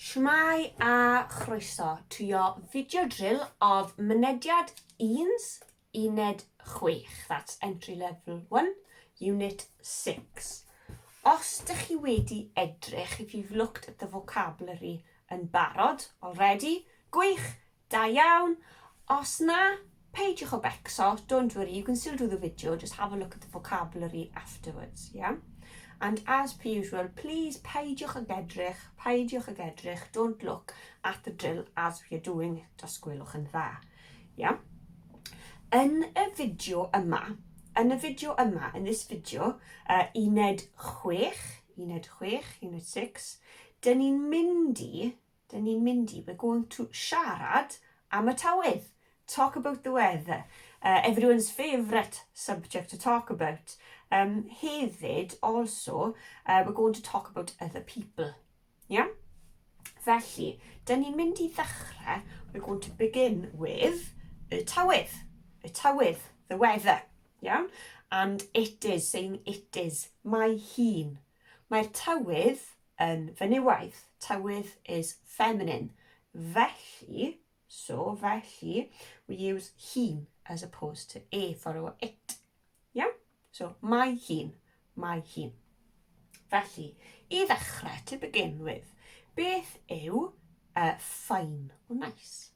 Shwmae a chroeso to your video drill of mynediad 1, uned 6, that's entry level 1, unit 6. Os dych chi wedi edrych, if you've looked at the vocabulary yn barod already, gwych, Da iawn! Os na, peidiwch o becso, don't worry, you can still do the video, just have a look at the vocabulary afterwards, yeah? And as per usual, please peidiwch ag edrych, peidiwch ag edrych, don't look at the drill as we are doing it, os gwelwch yn dda, yeah? Yn y fideo yma, yn y fideo yma, in this video, uh, uned 6, uned 6, uned 6, dyn ni'n mynd i, Dyn ni'n mynd i, we're going to, siarad am y tywydd. Talk about the weather. Uh, everyone's favourite subject to talk about. Um, hefyd, also, uh, we're going to talk about other people. Yeah? Felly, dyn ni'n mynd i ddechrau, we're going to begin with y tywydd. Y tywydd, the weather. Iawn? And it is, saying it is. Mae hi'n. Mae'r tywydd yn fenywaidd, tywydd is feminine. Felly, so, felly, we use he as opposed to e for our it. Yeah? So, mae hi'n, mae hi'n. Felly, i ddechrau, to begin with, beth yw uh, fine or nice?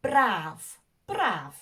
Braf, braf.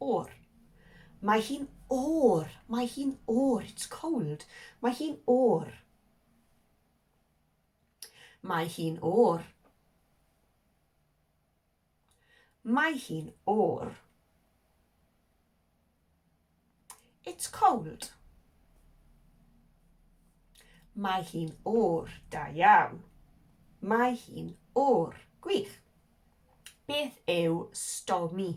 Oer. Mae hi'n oer. Mae hi'n oer. It's cold. Mae hi'n oer. Mae hi'n oer. Mae hi'n oer. It's cold. Mae hi'n oer. Da iawn. Mae hi'n oer. Gwych. Beth yw stormy?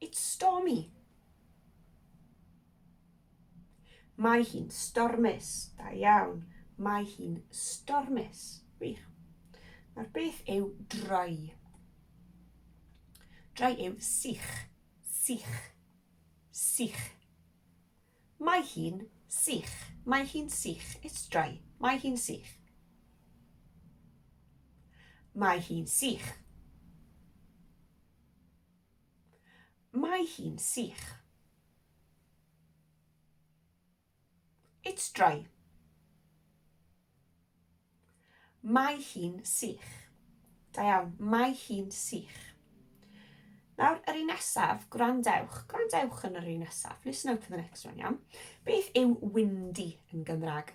It's stormy. Mae hi'n stormus. Da iawn. Mae hi'n stormus. Wych. Nawr beth yw dry? Dry yw sych. Sych. Sych. Mae hi'n sych. Mae hi'n sych. It's dry. Mae hi'n sych. Mae hi'n sych. Mae hi'n sych. It's dry. Mae hi'n sych. Da iawn, mae hi'n sych. Nawr, yr un nesaf, gwrandewch. Gwrandewch yn yr un nesaf. Listen out for the next one, iawn. Beth yw windy yn Gymraeg?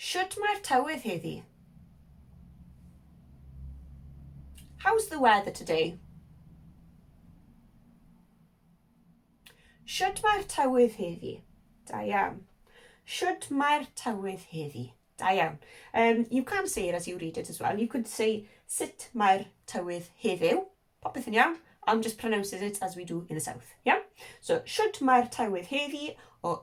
Shwt mae'r tywydd heddi? How's the weather today? Shwt mae'r tywydd heddi? Da iawn. Shwt mae'r tywydd heddi? Da iawn. Um, you can say it as you read it as well. You could say sut mae'r tywydd heddiw. Popeth yn iawn. I'm just pronouncing it as we do in the south. Yeah? So, shwt mae'r tywydd heddi? Or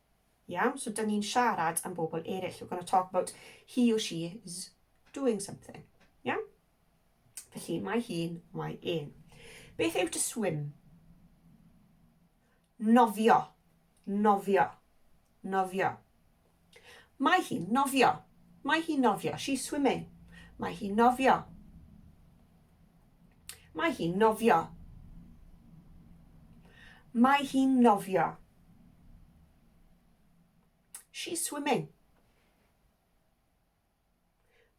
Iawn, so dyn ni'n siarad am bobl eraill. We're going to talk about he or she is doing something. Iawn? Felly, mae hi'n, mae e'n. Beth yw to swim? Nofio. Nofio. Nofio. Mae hi'n nofio. Mae hi'n nofio. She's swimming. Mae hi'n nofio. Mae hi'n nofio. Mae hi'n nofio. She's swimming.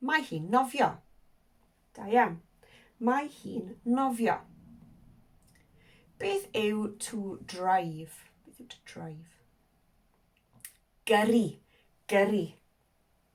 Mae hi'n nofio. Da iawn. Mae hi'n nofio. Beth yw to drive? Beth yw to drive? Gyrru. Gyrru.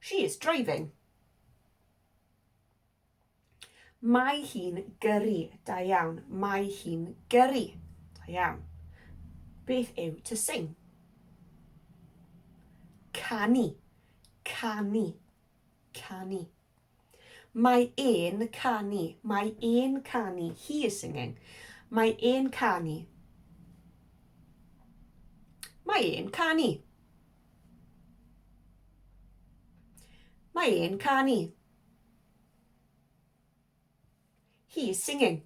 She is driving. Mae hi'n gyrru. Da iawn. Mae hi'n gyrru. Da iawn. Beth yw to sing? Canu. Canu. Canu. Mae e'n canu. Mae e'n canu. He is singing. Mae e'n canu. Mae e'n canu. Mae e'n canu. He is singing.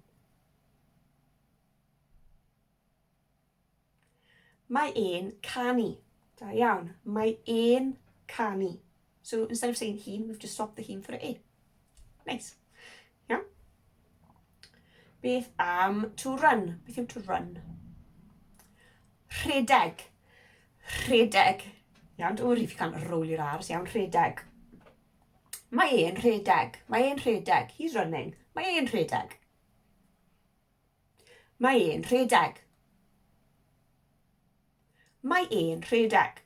Mae e'n canu. Da iawn. Mae e'n canu. So instead of saying he, we've just swapped the he for e. Nice. Iawn? Beth am to run? Beth yw to run? Rhedeg. Rhedeg. Iawn, don't worry if you can't roll your R's. Iawn, rhedeg. Mae e'n rhedeg. Mae e'n rhedeg. He's running. Mae e'n rhedeg. Mae e'n rhedeg. Mae e'n rhedeg.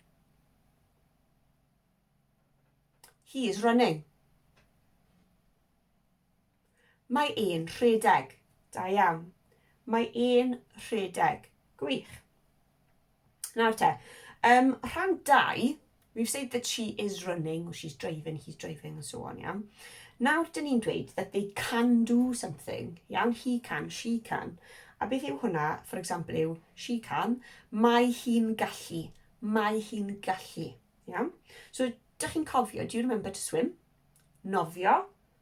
He is running. Mae e'n rhedeg. Da iawn. Mae e'n rhedeg. Gwych. Nawr te, um, rhan dau, we've said that she is running, or she's driving, he's driving, and so on, iawn. Nawr, dyn ni'n dweud that they can do something, iawn, he can, she can. A beth yw hwnna, for example, yw she can, mae hi'n gallu, mae hi'n gallu, iawn. So, dych chi'n cofio, do you remember to swim? Nofio,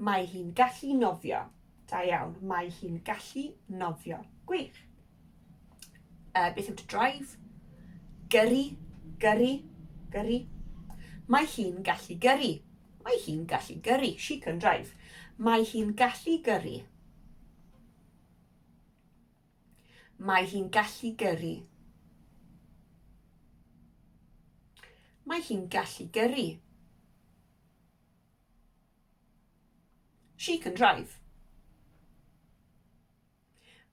Mae hi'n gallu nofio. Da iawn. Mae hi'n gallu nofio. Gwych. Uh, beth yw to drive? Gyrru, gyrru, gyrru. Mae hi'n gallu gyrru. Mae hi'n gallu gyrru. She can drive. Mae hi'n gallu gyrru. Mae hi'n gallu gyrru. Mae hi'n gallu gyrru. She can drive.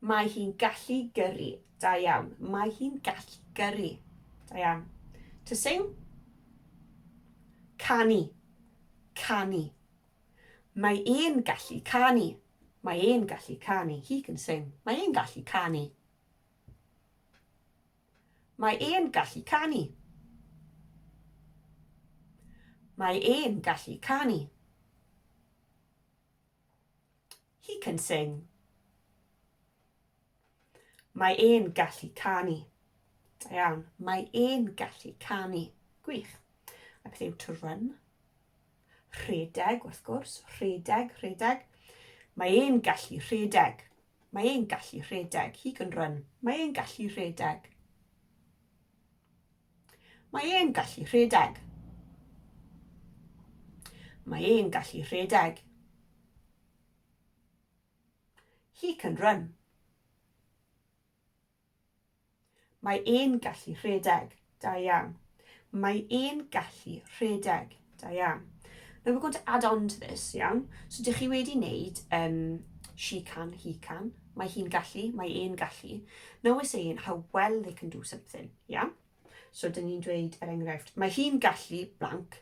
Mae hi'n gallu gyrru. Da iawn. Mae hi'n gallu gyrru. Da iawn. To sing. Canu. Canu. Mae e'n gallu canu. Mae e'n gallu canu. He can sing. Mae e'n gallu canu. Mae e'n gallu canu. Mae e'n gallu canu. He can sing. Mae e'n gallu canu. Da iawn. Mae e'n gallu canu. Gwych. A beth yw to run? Rhedeg, wrth gwrs. Rhedeg, rhedeg. Mae e'n gallu rhedeg. Mae e'n gallu rhedeg. He can run. Mae e'n gallu rhedeg. Mae e'n gallu rhedeg. Mae e'n gallu rhedeg. He can run. Mae e'n gallu rhedeg. Da iawn. Mae e'n gallu rhedeg. Da iawn. Now we're going to add on to this, iawn? So dych chi wedi wneud um, she can, he can. Mae hi'n gallu, mae e'n gallu. Now we're saying how well they can do something, iawn? So dyn ni'n dweud, er enghraifft, mae hi'n gallu blank,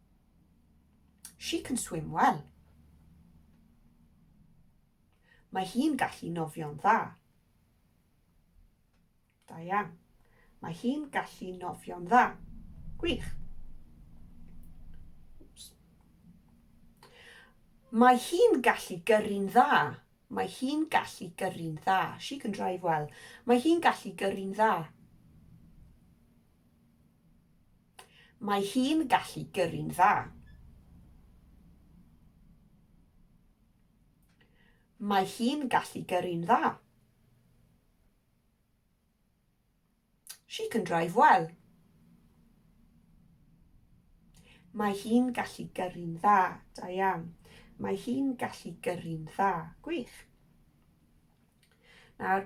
She can swim well. Mae hi'n gallu nofio'n dda. Da iawn. Mae hi'n gallu nofio'n dda. Gwych. Mae hi'n gallu gyrru'n dda. Mae hi'n gallu gyrru'n dda. She can drive well. Mae hi'n gallu gyrru'n dda. Mae hi'n gallu gyrru'n dda. Mae hi'n gallu gyrru'n dda. She can drive well. Mae hi'n gallu gyrru'n dda. Da iawn. Mae hi'n gallu gyrru'n dda. Gwych. Nawr,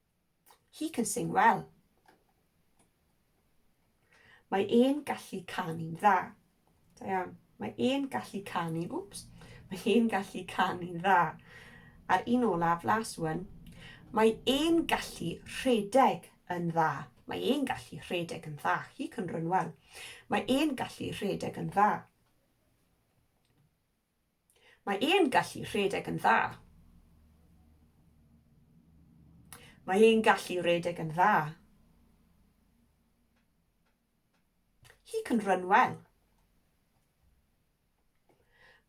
He can sing well. Mae e'n gallu canu'n dda. Da iawn. Mae e'n gallu canu, oops, mae e'n gallu canu'n dda. A'r un olaf, last one, mae e'n gallu rhedeg yn dda. Mae e'n gallu rhedeg yn dda. He can run well. Mae e'n gallu rhedeg yn dda. Mae e'n gallu rhedeg yn dda. Mae e'n gallu rhedeg yn dda. He can run well.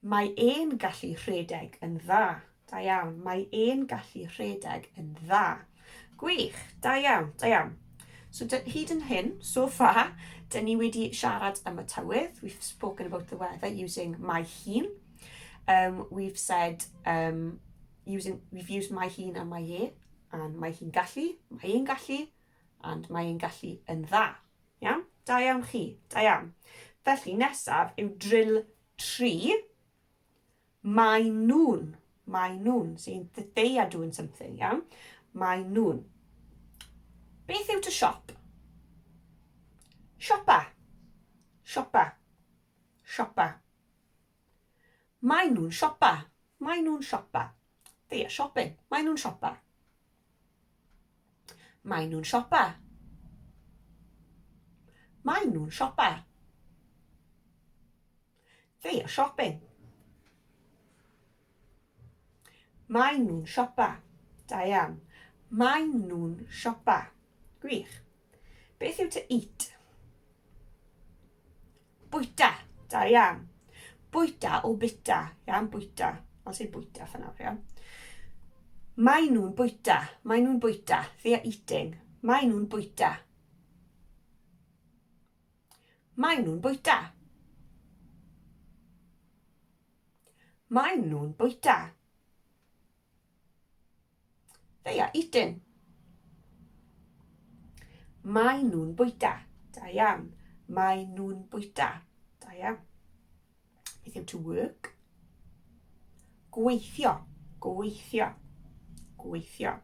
Mae e'n gallu rhedeg yn dda. Da iawn, mae e'n gallu rhedeg yn dda. Gwych, da iawn, da iawn. So hyd yn hyn, so far, dyn ni wedi siarad am y tywydd. We've spoken about the weather using my hun. Um, we've said, um, using, we've used my hun and my e, and my hun gallu, my ein gallu, and my ein gallu yn dda. Iawn? Da iawn chi, da iawn. Felly nesaf yw drill 3. Mae nhw'n, mae nhw'n, so they are doing something, iawn? Mae nhw'n. Beth yw to shop? Siopa. Siopa. Siopa. Mae nhw'n siopa. Mae nhw'n siopa. They are shopping. Mae nhw'n siopa. Mae nhw'n siopa. Mae nhw'n siopa. They are shopping. Maen nhw'n siopa. Diane. Maen nhw'n siopa. Gwych. Beth yw to eat? Bwyta. Diane. Bwyta o bita. Iawn, bwyta. I'll say bwyta for now, iawn. Maen nhw'n bwyta. Maen nhw'n bwyta. They are eating. Maen nhw'n bwyta. Maen nhw'n bwyta. Maen nhw'n bwyta. They are eating. Maen nhw'n bwyta. Da iawn. Maen nhw'n bwyta. Da iawn. Beth yw to work? Gweithio. Gweithio. Gweithio.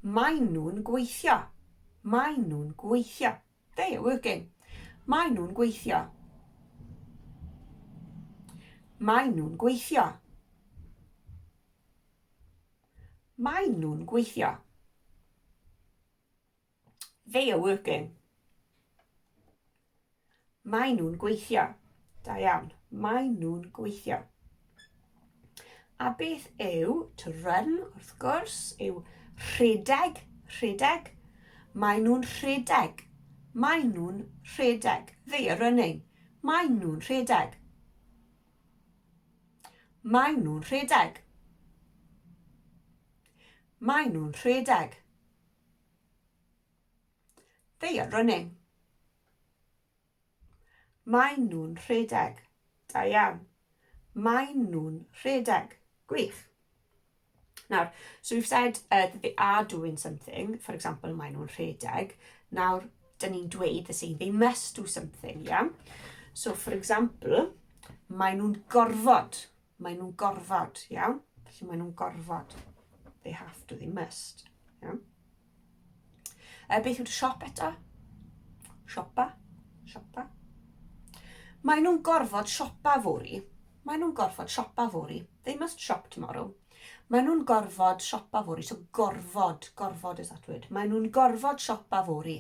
Maen nhw'n gweithio. Maen nhw'n gweithio. They are working. Mae nhw'n gweithio. Mae nhw'n gweithio. Mae nhw'n gweithio. They are working. Mae nhw'n gweithio. Da iawn. Mae nhw'n gweithio. A beth yw to run, wrth gwrs, yw rhedeg, rhedeg. Mae nhw'n rhedeg. Mae nhw'n rhedeg. They are running. Mae nhw'n rhedeg. Mae nhw'n rhedeg. Mae nhw'n rhedeg. They are running. Maen nhw'n rhedeg. Da iawn. Maen nhw'n rhedeg. Gwych. Nawr, so we've said uh, that they are doing something, for example, maen nhw'n rhedeg. Nawr, dyn ni'n dweud, they're saying, they must do something, iawn? Yeah? So, for example, maen nhw'n gorfod Maen nhw'n gorfod, iawn? Felly maen nhw'n gorfod. They have to, they must. Iawn? E, beth yw'r siop eto? Siopa? Siopa? Maen nhw'n gorfod siopa fori. Maen nhw'n gorfod siopa fori. They must shop tomorrow. Maen nhw'n gorfod siopa fori. So gorfod, gorfod is that word. Maen nhw'n gorfod siopa fori.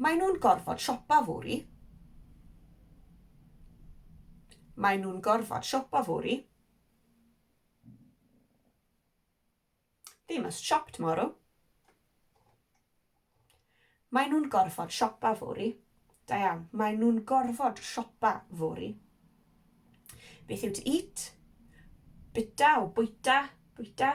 Maen nhw'n gorfod siopa fory. Maen nhw'n gorfod siopa fory. They must shop tomorrow. Maen nhw'n gorfod siopa fory. Da iawn. Maen nhw'n gorfod siopa fory. Beth yw to eat? Bita o bwyta, bwyta.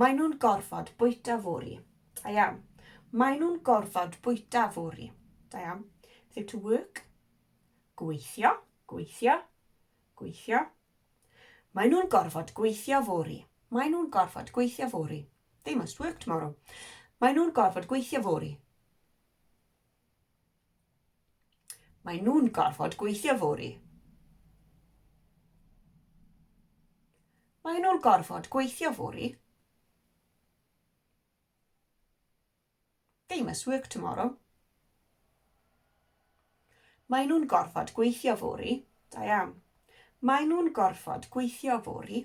Maen nhw'n gorfod bwyta fory. Da iawn. Maen nhw'n gorfod bwyta fory. Da iawn. Beth yw to work? Gweithio, gweithio, gweithio. Maen nhw'n gorfod gweithio fory. Maen nhw'n gorfod gweithio fory. They must work tomorrow. Maen nhw'n gorfod gweithio fory. Mae nhw'n gorfod gweithio fory. Mae nhw'n gorfod gweithio fory. They must work tomorrow. Mae nhw'n gorfod gweithio fory. Da iawn. Mae nhw'n gorfod gweithio fory.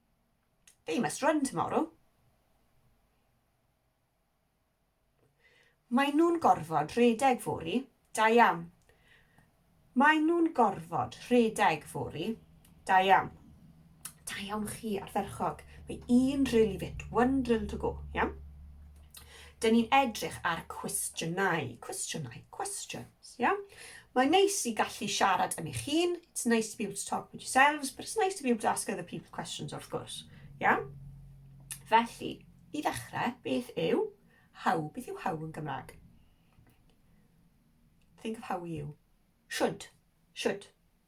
They must run tomorrow. Mae nhw'n gorfod rhedeg fory. Da iawn. Mae nhw'n gorfod rhedeg fory. Da iawn. Da iawn chi, ardderchog. Mae un drill i fit, one drill to go. Iawn? Dyn ni'n edrych ar cwestiynau, cwestiynau, questions, ia? Yeah? Mae'n neis i gallu siarad yn eich hun, it's nice to be able to talk with yourselves, but it's nice to be able to ask other people questions, of course, ia? Yeah? Felly, i ddechrau, beth yw how? Beth yw how yn Gymraeg? Think of how you. Should, should,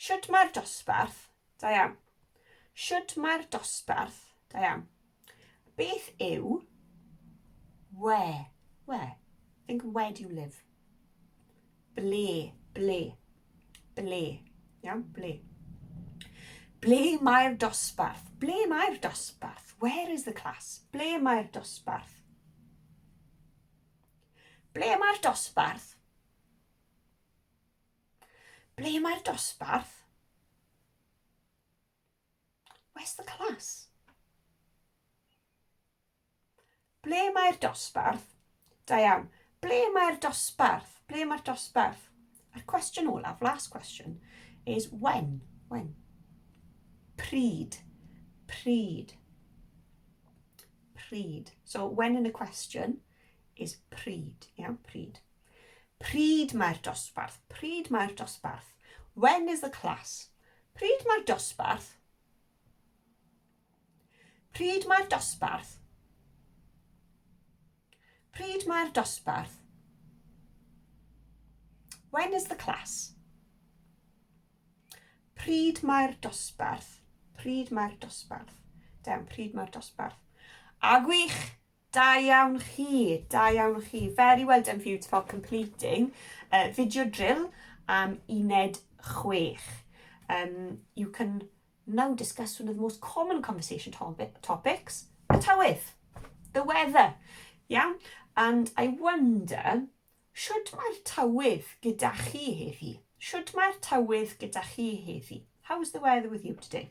Shwt mae'r dosbarth? Da iawn. Shwt mae'r dosbarth? Da iawn. Beth yw where? Where? Think where do you live? Ble? Ble? Ble? Iawn? Ble? Ble mae'r dosbarth? Ble mae'r dosbarth? Where is the class? Ble mae'r dosbarth? Ble mae'r dosbarth? Ble mae'r dosbarth? Where's the class? Ble mae'r dosbarth? Da iawn. Ble mae'r dosbarth? Ble mae'r dosbarth? A'r cwestiwn olaf, last question, is when? When? Pryd. Pryd. Pryd. So when in a question is pryd. Iawn, pryd. Pryd mae'r dosbarth? Pryd mae'r dosbarth? When is the class? Pryd mae'r dosbarth? Pryd mae'r dosbarth? Pryd mae'r dosbarth? When is the class? Pryd mae'r dosbarth? Pryd mae'r dosbarth? Dem, pryd mae'r dosbarth? A gwych! Da iawn chi, da iawn chi. Very well done for you for completing uh, video drill am uned chwech. Um, you can now discuss one of the most common conversation topics, y tywydd, the weather. Iawn? And I wonder, should mae'r tywydd gyda chi heddi? Should mae'r tywydd gyda chi heddi? How is the weather with you today?